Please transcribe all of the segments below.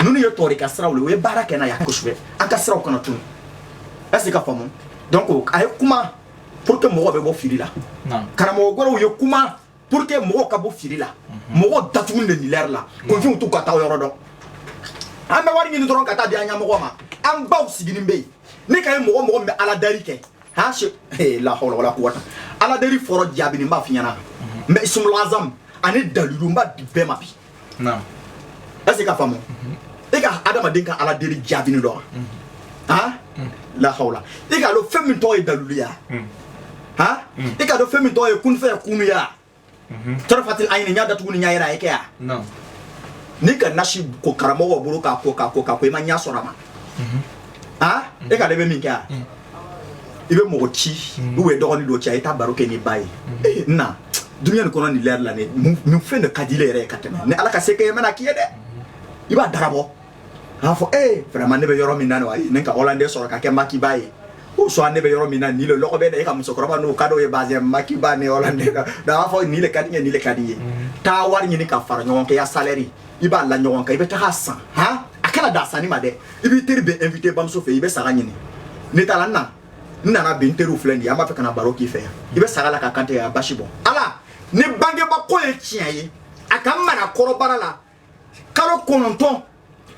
ninnu ye tɔɔri ka siraw le o ye baara kɛ n'a ye kosɛbɛ an ka siraw kana tunu est ce que ka faamu donc a ye kuma pour que mɔgɔ bɛ bɔ fili la karamɔgɔ gɔrɔw ye kuma pour que mɔgɔw ka bɔ fili la mɔgɔw datugu de ni lɛri la kunfinw t'u ka taa yɔrɔ dɔn an bɛ wari ɲini dɔrɔn ka taa di an ɲɛmɔgɔ ma an baw siginin bɛ yen ne ka ye mɔgɔ mɔgɔ min bɛ aladari kɛ han se la hawla wala quwwata aladari fɔrɔ jaabini b'a f'i ɲɛna mais isumulazam ani dalilu n b'a di bɛɛ ma bi naamu est-ce que ka faamu e ka adamaden ka ala deli jaabini dɔn han lahawla e k'a dɔn fɛn min tɔgɔ ye daliluya han e k'a dɔn fɛn min tɔgɔ ye kunfɛ kunuya tɔrɔfatil ayini ɲa datugu ni ɲa yɛrɛ a ye kɛ yan naamu n'i ka nasi ko karamɔgɔ bolo k'a ko k'a ko k'a ko i ma ɲɛ sɔrɔ a ma han e k'ale bɛ min kɛ yan i bɛ mɔgɔ ci ou bien dɔgɔnin dɔ ci a ye taa baro kɛ ni ba ye na dunya nin kɔnɔ ni lɛri la nin fɛn de ka d'ile yɛrɛ ye ka tɛmɛ ni ala ka se kɛ mɛn k'i ye dɛ i b'a dabɔ k'a fɔ vraiment ne bɛ yɔrɔ min na wa ne ka hollandais sɔrɔ ka kɛ makiba ye ou soit ne bɛ yɔrɔ min na nin lɔgɔ bɛ da e ka musokɔrɔba n'o ka ye ba makiba ni b'a fɔ nin ka di n ye nin ka di n ye taa wari ɲini ka fara ɲɔgɔn kan ya salaire i b'a la ɲɔgɔn kan i bɛ taa san h a kana da sanni ma dɛ i b'i teri bɛɛ invité bamuso fɛ i bɛ saga ɲini ne taara n na n nana bi n teriw filɛ nin ye an b'a fɛ ka na baro k'i fɛ yan i bɛ saga la k'a kan tɛgɛ a basi bɔ ala ni bangebaa ko ye tiɲɛ ye a ka n mara kɔnɔbara la kalo kɔnɔntɔn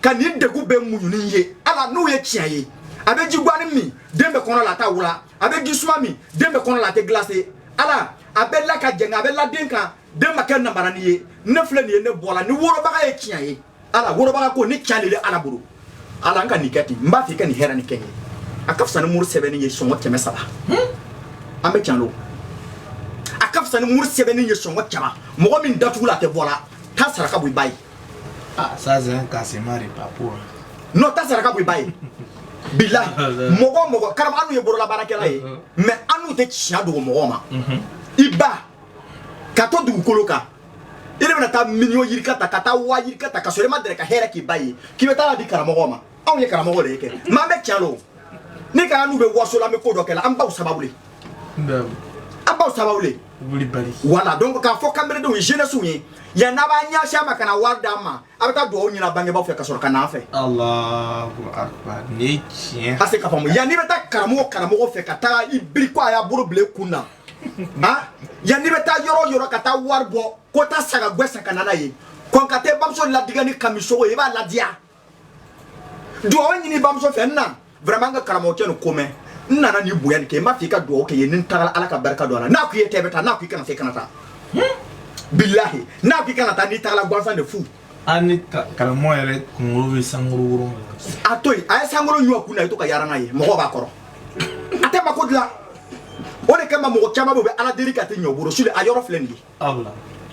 ka n degun bɛɛ muɲu n ye ala n'o ye tiɲɛ ye a bɛ ji guwani min den bɛ kɔnɔ la a t'a wula a bɛ ji suma min den bɛ kɔnɔ la a tɛ glacé ala a bɛ la ka jɛngɛ a bɛ la den kan den ma kɛ namarani ye ne filɛ nin ye ne bɔ la ni wolobaga ye tiɲɛ ye ala wolobaga ko ni can le le ala bolo ala n ka nin kɛ ten n b'a fɛ i ka nin hɛrɛ ni kɛ n ye a ka fisa ni muru sɛbɛnni ye sɔngɔ kɛmɛ saba an bɛ can lo a ka fisa ni muru sɛbɛnni ye sɔngɔ caman mɔgɔ min datugu la a tɛ bɔ la taa saraka bɔ i ba ye Ah, ça c'est un cassement de papo. hein. non taa saraka bɔ i ba ye bilahi mɔgɔ o mɔgɔ karama annu ye bololabaarakɛla ye mais annu tɛ tiɲɛ dogo mɔgɔw ma i ba ka to dugukolo kan i de bɛna taa miliyɔn yirika ta ka taa waa yirika ta ka sɔrɔ i ma dɛrɛ ka hɛrɛ k'i ba ye k'i bɛ taa di karamɔgɔ ma anw ye karamɔgɔ de ye kɛ mais an bɛ tiɲɛ lo ni ka annu bɛ waso la an bɛ ko dɔ kɛ la an baw sababu le an baw sababu le voilà donc k'a fɔ kanberedenw ye jeunesse ye yan n'a b'a ɲɛsin a ma ka na wari d'a ma a bɛ taa dugawu ɲini a bangebaaw fɛ ka sɔrɔ ka n'an fɛ est-ce ka faamu yann'i bɛ taa karamɔgɔ karamɔgɔ fɛ ka taa i biri ko a y'a bolo bila i kun na A yann'i bɛ taa yɔrɔ yɔrɔ ka taa wari bɔ ko taa saga gwɛ san ka na n'a ye kɔn ka taa bamuso ladiya ni kamisogo ye i b'a ladiya dugawu ɲini bamuso fɛ n na vraiment n ka karamɔgɔcɛ nin ko mɛn n nana ni bonya nin kɛ n b'a fɛ i ka dugawu kɛ n ye ni n taara ala ka barika don a la n'a ko i ye taa i bɛ taa n'a ko i kana se kana taa bilahi n'a ko i kana taa n'i taara gansan de fu ani karamɔgɔ yɛrɛ kunkolo bɛ sankolo wolon a to yen a ye sankolo ɲɔ kun na i to ka yaala n'a ye mɔgɔ b'a kɔrɔ a tɛ mako dilan o de kama mɔgɔ caman bɛ u bɛ ala deli ka tɛ ɲɔ bolo suli a yɔrɔ filɛ nin ye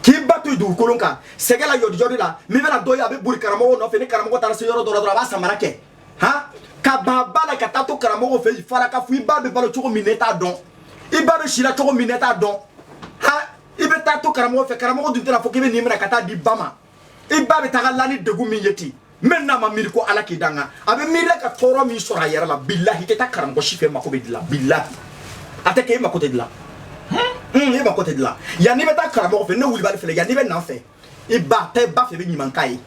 k'i ba to dugukolo kan sɛgɛn la yɔdijɔdi la min bɛna dɔ ye a bɛ boli karamɔgɔ nɔfɛ ni karamɔgɔ taara se yɔrɔ dɔ la dɔrɔn a b'a samara kɛ han ka ban ba la ka taa to karamɔgɔ fɛ fara ka fɔ i ba bɛ balo cogo min ne t'a dɔn i ba bɛ si la cogo min ne t'a dɔn han i bɛ taa to karamɔgɔ fɛ karamɔgɔ dun tɛna fɔ k'i bɛ nin minɛ ka taa d'i ba ma i ba bɛ taga la ni degun min ye ten même n'a ma miiri ko ala k'i danga a bɛ miiri la ka tɔɔrɔ min sɔrɔ a yɛrɛ la bilahi i tɛ taa karamɔgɔ si fɛ mako bɛ dilan bilahi a tɛ kɛ e mako tɛ dilan e mako tɛ dilan yanni i bɛ taa karamɔgɔ fɛ ne kulibali filɛ yanni i bɛ na n fɛ i bɛ taa i ba fɛ i bɛ ɲuman k'a ye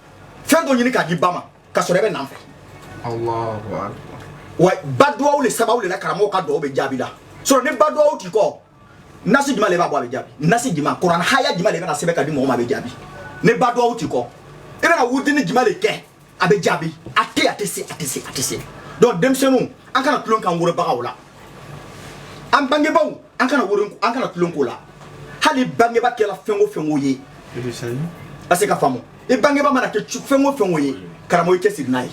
fɛn dɔ ɲini k'a d'i ba ma ka sɔrɔ i bɛ na n fɛ wa ba duwawu le sababu le la karamɔgɔ ka duwawu bɛ jaabi la sɔrɔ ni ba duwawu t'i kɔ nasi jumɛn de b'a bɔ a bɛ jaabi nasi jumɛn kuranɛ haya jumɛn de bɛna sɛbɛn ka di mɔgɔ ma a bɛ jaabi ni ba duwawu t'i kɔ i bɛna wurudini jumɛn de kɛ a bɛ jaabi a tɛ a tɛ se a tɛ se a tɛ se donc denmisɛnninw an kana tulon k'an wolobagaw la an bangebaaw an kana woro an kana tulon k'o la hali bangeba kɛra fɛn o fɛn o ye est-ce que k'a faamu i bangebaa mana kɛ fɛn o fɛn o ye karamɔgɔ i cɛsiri n'a ye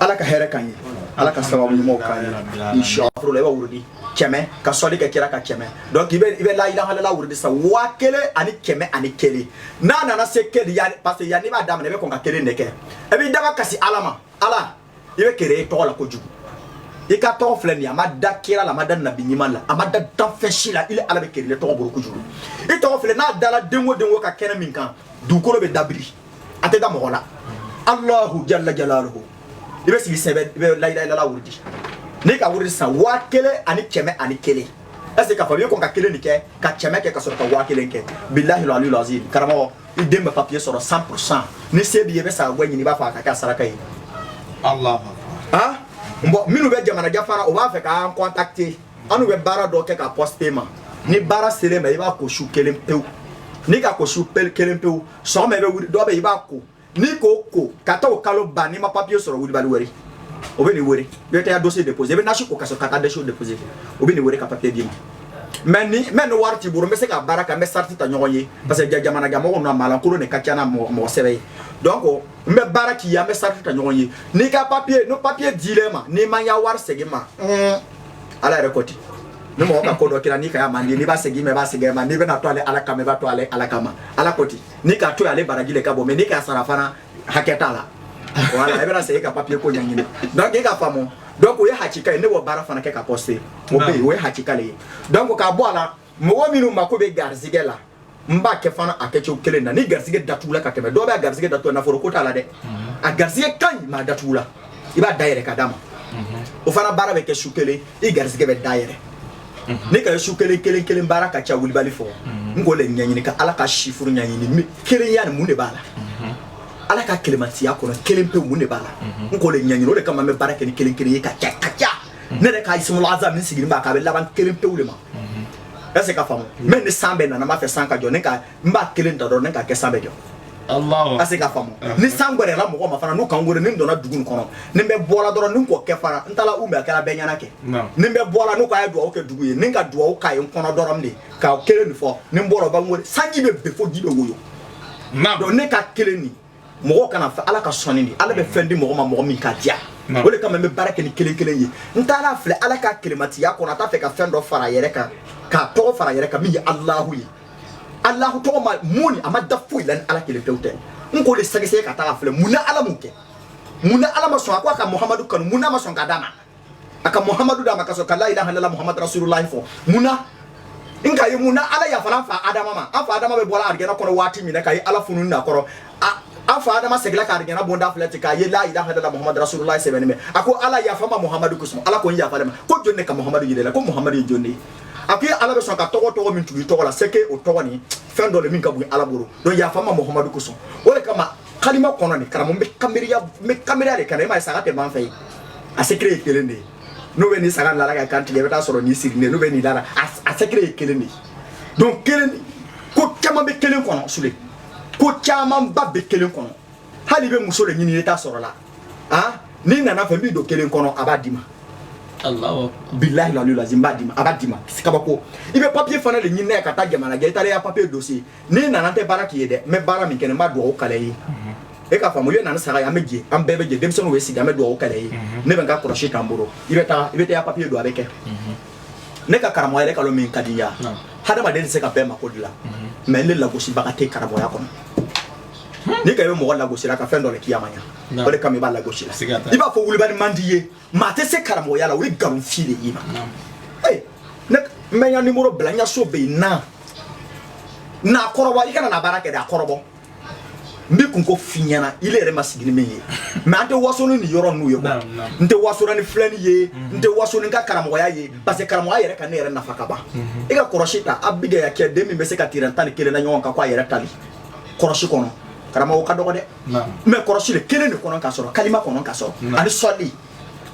ala ka hɛrɛ k'an ye ala ka sababu ɲumanw k'an ye inshallah la i bɛ wurudi kɛmɛ ka sɔli kɛ kira kan kɛmɛ donc i bɛ i bɛ la ilaha illallah wurudi sa waa kelen ani kɛmɛ ani kelen n'a nana se kelen yanni parce que yanni i b'a daminɛ i bɛ kɔn ka kelen de kɛ i b'i damakasi ala ma ala i bɛ kele i tɔgɔ la kojugu i ka tɔgɔ filɛ nin ye a ma da kira la a ma da nabi ɲuman la a ma da danfɛn si la ile ala bɛ kele i tɔgɔ bolo kojugu i tɔgɔ filɛ n'a dala den o den o ka kɛnɛ min kan dugukolo bɛ dabiri a tɛ da mɔgɔ la alahu jalla jalaluhu i bɛ sigi sɛbɛ i bɛ la ilaha illallah wurudi n'i ka wurudi san waa kelen ani kɛmɛ ani kelen est-ce que k'a fɔ i bɛ kɔn ka kelen de kɛ ka kɛmɛ kɛ ka sɔrɔ ka waa kelen kɛ bilahi aliyu lazim karamɔgɔ i den bɛ papiye sɔrɔ cent pour cent ni se b'i ye i bɛ saga gwɛ ɲini i b'a faga k'a kɛ saraka ye alahu akbar bon minnu bɛ jamana jafara o b'a fɛ k'an kɔntakite annu bɛ baara dɔ kɛ k'a pɔsite i ma ni baara sel'i ma i b'a ko su kelen pewu n'i ka ko su kelen pewu sɔgɔma i bɛ wuli dɔ bɛ i b'a ko n'i k'o ko ka taa o kalo ban n'i ma papiye sɔrɔ kulibali wele o bɛn'i wele i bɛ taa dɔsiye depose i bɛ nasi ko ka sɔrɔ ka taa dɔsiye depose o bɛn'i wele ka papiye d'i ma mɛ ni mɛ ni wari t'i bolo n bɛ se ka baara kɛ an bɛ sarati ta ɲɔgɔn ye parce que jamana ka mɔgɔ na maalankolon de ka ca n'a mɔgɔ sɛbɛ ye donc n bɛ baara k'i ye an bɛ sarati ta ɲɔgɔn ye n'i ka papiye n'o papiye dil'i ma n'i ma y'a wari segin ma ala yɛrɛ ko ten ni mɔgɔ ka ko dɔ kɛra n'i ka man di n'i b'a segin ma i b'a segin ma n'i bɛn'a to ale ala kama i b'a to ale ala kama ala ko ten n'i k'a to ale baraji le ka bon mɛ n'i k'a sara fana hakɛ t'a la voilà i bɛna se ka papier ko ɲɛɲini donc e ka faamu donc o ye hakika ye ne b'o baara fana kɛ ka poster o bɛ yen o ye hakika le ye donc k'a bɔ a la mɔgɔ minnu mako bɛ garizigɛ la n b'a kɛ fana a kɛcogo kelen na ni garizigɛ datugula ka tɛmɛ dɔw bɛ a garizigɛ datugu nafolo ko t'a la dɛ mhm. a garizigɛ ka ɲi mais a datugula i b'a dayɛlɛ ka d'a ma mhm. o fana baara bɛ kɛ su kelen i garizigɛ bɛ dayɛlɛ mhm. ne ka su kelen kelen kelen baara ka ca wulibali fɔ mhm. n k'o le ɲɛɲini ka ala ka chiffre ɲɛɲini kelenya nin mun de b'a la mhm. ala ka kelematiya kɔnɔ kelen pe mun de b'a la n k'o le ɲɛɲini o de kama n bɛ baara kɛ ni kelen kelen ye ka ca ka ca ne yɛrɛ ka ismul azam min sigilen b'a kan a bɛ laban kelen pewu de ma est-ce qu'a faamu mais ni san bɛ nana n b'a fɛ san ka jɔ ne ka n b'a kelen ta dɔrɔn ne k'a kɛ san bɛ jɔ est-ce qu'a faamu ni san gɛrɛla mɔgɔ ma fana n'u ka n wele ni n donna dugu kɔnɔ ni bɛ bɔla dɔrɔn ni n k'o kɛ fana n taara n b'a kɛra bɛɛ ɲɛna kɛ ni bɛ bɔla n'u ko a ye dugawu kɛ dugu ye ni ka dugawu k'a ye n kɔnɔ dɔrɔn de ka kelen nin fɔ ni n bɔra u bɛ n wele sanji bɛ ben fo ji bɛ woyo donc ne ka kelen nin mɔgɔ kana fɔ ala ka sɔnni di ala bɛ fɛn di mɔgɔ ma mɔgɔ min k'a diya o de kama n bɛ baara kɛ ni kelen kelen ye n taara a filɛ ala ka kelematiya kɔnɔ a t'a fɛ ka fɛn dɔ fara yɛrɛ kan k'a tɔgɔ fara yɛrɛ kan min ye alahu ye alahu tɔgɔ ma mun a ma da foyi la ni ala kelen pewu tɛ n k'o de sɛgɛsɛgɛ ka taa filɛ mun na ala m'o kɛ mun na ala ma sɔn a ko a ka muhamadu kanu mun na ma sɔn ka d'a ma a ka muhamadu d'a ma ka sɔrɔ ka la ilaha illallah muhamadu rasululahi fɔ mun na n k'a ye mun na ala yafara an fa adama ma an fa adama bɛ bɔra arijɛna kɔnɔ waati min na k'a ye ala fununa a kɔrɔ an fa adama seginna ka arijɛna bonda filɛ ten k'a ye la ilaha illallah muhamadu rasululahi sɛbɛnnen bɛ a ko ala yafa n ma muhamadu kosɔn ala ko n yafa ma ko jɔn de ka muhamadu yira i la ko muhamadu ye jɔn de ye a ko ala bɛ sɔn ka tɔgɔ tɔgɔ min tugu i tɔgɔ la c'est que o tɔgɔ nin fɛn dɔ le min ka bon ala bolo donc yafa n ma muhamadu kosɔn o de kama kalima kɔnɔ nin karamɔgɔ n bɛ kanbiriya n bɛ kanbiriya de kan e m'a ye saga tɛ ban fɛ yen a secret ye kelen de ye n'o bɛ nin saga lala ka kan tigɛ i bɛ taa sɔrɔ nin sirilen n'o bɛ nin lala a secret ye kelen de ye donc kelen ko caman bɛ kelen kɔnɔ sule ko camanba bɛ kelen kɔnɔ hali i bɛ muso de ɲini i t'a sɔrɔla ah n'i nana n fɛ n b'i don kelen kɔnɔ a b'a d'i ma bilahi lalu lazim b'a d'i ma a b'a d'i ma kabako i bɛ papier fana de ɲini n'a ye ka taa jamana jan i taara i ka papier dossier n'i nana n tɛ baara k'i ye dɛ n bɛ baara min kɛ n b'a dugawu k'ala ye e k'a faamu i bɛ na ni saga ye an bɛ jɛ an bɛɛ bɛ jɛ denmisɛnninw bɛ sigi an bɛ dugawu k'ala ye ne bɛ n ka kɔlɔsi ta n bolo i bɛ taa i bɛ taa papier don a bɛ kɛ ne ka karamɔgɔya kalo min ka diya hadamaden tɛ se ka bɛɛ mako dilan mais ne lagosibaga tɛ karamɔgɔya kɔnɔ n'i k'a ye i bɛ mɔgɔ lagosira ka fɛn dɔ de k'i y'a ma ɲa o de kama i b'a lagosila i b'a fɔ wulibali man di ye maa tɛ se karamɔgɔya la o ye nkalon fin de y'i ma ee ne n bɛ n ka numéro bila n ka so bɛ yen na n kɔrɔbɔ i kana na baara kɛ dɛ a kɔrɔbɔ n b'i kunko f'i ɲɛna i yɛrɛ ma sigi ni min ye mais an tɛ waso ni nin yɔrɔ ninnu ye quoi n tɛ waso ni filɛni ye n tɛ waso ni n ka karamɔgɔya ye parce que karamɔgɔya yɛrɛ ka ne yɛrɛ nafa ka ban i ka kɔlɔsi ta a bigɛya kɛ den min bɛ se ka tirɛn tan ni kelen na ɲɔgɔn kan ko a yɛrɛ tali kɔlɔsi kɔnɔ karamɔgɔ ka dɔgɔ dɛ mais kɔrɔsi de kelen de kɔnɔ ka sɔrɔ kalima kɔnɔ ka sɔrɔ ani sɔli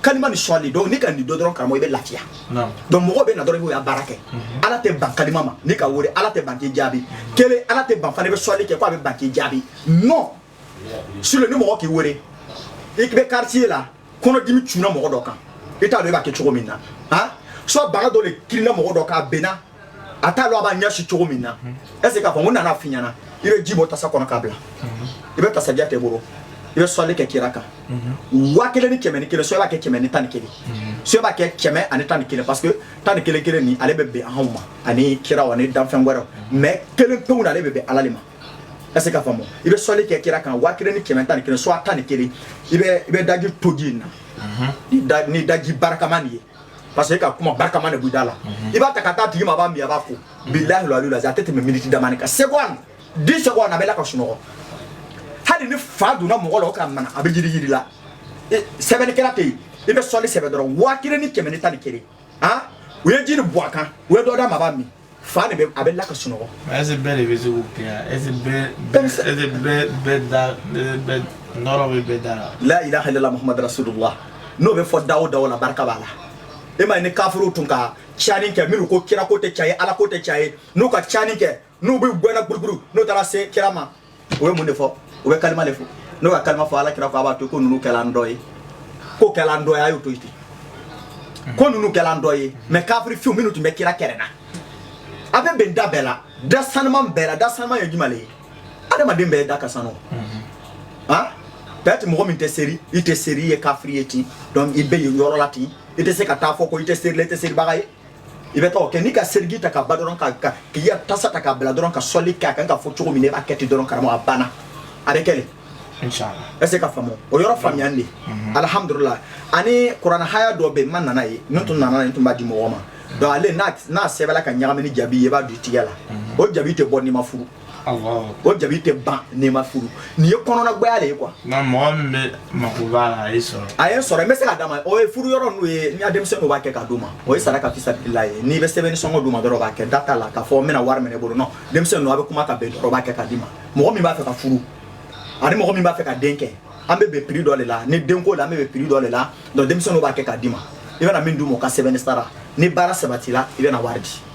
kalima ni sɔli donc n'i ka nin dɔn dɔrɔn karamɔgɔ i bɛ lafiya donc mɔgɔ bɛ na dɔrɔn i b'o ya baara kɛ mhm. ala tɛ ban kalima ma n'i k'a wele ala tɛ ban k'i jaabi kelen ala tɛ ban fana i bɛ sɔli kɛ ko a bɛ ban k'i jaabi non sule ni mɔgɔ k'i wele i bɛ quartier la kɔnɔdimi cunna mɔgɔ dɔ kan i t'a dɔn i b'a kɛ cogo min na han soit baga dɔ de kirinna mɔgɔ dɔ kan a benna a t'a lɔn a b'a ɲɛsi cogo min na est ce k'a fɔ n ko nana f'i ɲɛna i bɛ ji bɔ tasa kɔnɔ k'a bila i bɛ tasabiya ta i bolo i bɛ sɔli kɛ kira kan waa kelen ni kɛmɛ ni kelen soit b'a kɛ kɛmɛ ni tan ni kelen soit b'a kɛ kɛmɛ ani tan ni kelen parce que tan ni kelen kelen nin ale bɛ bɛn anw ma ani kiraw ani danfɛn wɛrɛw mais kelen pewu na ale bɛ bɛn ala de ma est ce k'a faamu i bɛ sɔli kɛ kira kan waa kelen ni kɛmɛ tan ni kelen soit tan ni kelen i bɛ i bɛ daji tu ji in na ni daji barikama nin ye parce que e ka kuma barikama de b'i da la i b'a ta ka taa tigi ma a b'a min a b'a ko bilahi lo alilu a tɛ tɛmɛ miniti damanin kan seconde dix secondes a bɛ la ka sunɔgɔ hali ni fa donna mɔgɔ la o k'a mina a bɛ yiriyiri la sɛbɛnnikɛla tɛ yen i bɛ sɔli sɛbɛn dɔrɔn waa kelen ni kɛmɛ ni tan ni kelen han u ye ji nin bɔn a kan u ye dɔ d'a ma a b'a min fa de bɛ a bɛ la ka sunɔgɔ ɛse bɛɛ de bɛ se k'o kɛ yan ɛse bɛɛ ɛse bɛɛ bɛɛ da bɛɛ nɔrɔ bɛ bɛɛ da la la ilaha illallah muhammad rasulullah n'o bɛ fɔ da o da o la barika b'a la e m'a ye ni kafiriw tun ka cani kɛ minnu ko kira ko tɛ can ye ala ko tɛ can ye n'u ka cani kɛ n'u b'u gɛnna guruguru n'u taara se kira ma o bɛ mun de fɔ u bɛ kalima de fɔ n'o ka kalima fɔ ala kira ko a b'a to ko ninnu kɛla an dɔ ye ko kɛla an dɔ ye a y'o to yen ten ko ninnu kɛla an dɔ ye mais kafiri finw minnu tun bɛ kira kɛrɛ na a bɛ bɛn da bɛɛ la da sanuma bɛɛ la da sanuma ye jumɛn de ye adamaden bɛɛ da ka sanu han peut-être mɔgɔ min tɛ seri i tɛ seri i ye kafiri ye ten donc i bɛ yen yɔrɔ la ten i tɛ se ka taa fɔ ko i tɛ serila i tɛ seribaga ye i bɛ taa o kɛ n'i ka seriji ta ka ban dɔrɔn ka ka k'i ya tasa ta k'a bila dɔrɔn ka sɔli k'a kan ka fɔ cogo min na i b'a kɛ ten dɔrɔn karamɔgɔ a banna a bɛ kɛ de est ce que ka faamu o yɔrɔ faamuya de mhm. alhamdulillah ani kurana aya dɔ bɛ yen n ma na n'a ye ni n tun nana ne tun b'a di mɔgɔ ma donc ale n'a sɛbɛla ka ɲagami ni jabi ye i b'a don i tigɛ la mhm. o jabi tɛ bɔ n'i ma furu o jabi tɛ ban n'i ma furu nin ye kɔnɔnagbɛya de ye quoi nka mɔgɔ min bɛ mako b'a la a ye sɔrɔ a ye n sɔrɔ n bɛ se ka d'a ma o ye furu yɔrɔ ninnu ye n ka denmisɛnnin dɔ b'a kɛ ka d'u ma o ye saraka fisabilahi n'i bɛ sɛbɛnni sɔngɔ d'u ma dɔrɔn k'a kɛ da t'a la k'a fɔ n bɛna wari minɛ i bolo non denmisɛnnin dɔ a bɛ kuma ka bɛn dɔrɔn b'a kɛ ka d'i ma mɔgɔ min b'a fɛ ka furu ani mɔgɔ min b'a fɛ ka den kɛ an bɛ bɛn prix dɔ de la ni denko la an bɛ bɛn prix dɔ de la donc denmisɛnnin dɔ b'a kɛ ka d'i ma i bɛna min d'u ma o ka sɛbɛnni sara ni baara sabatila i bɛna wari di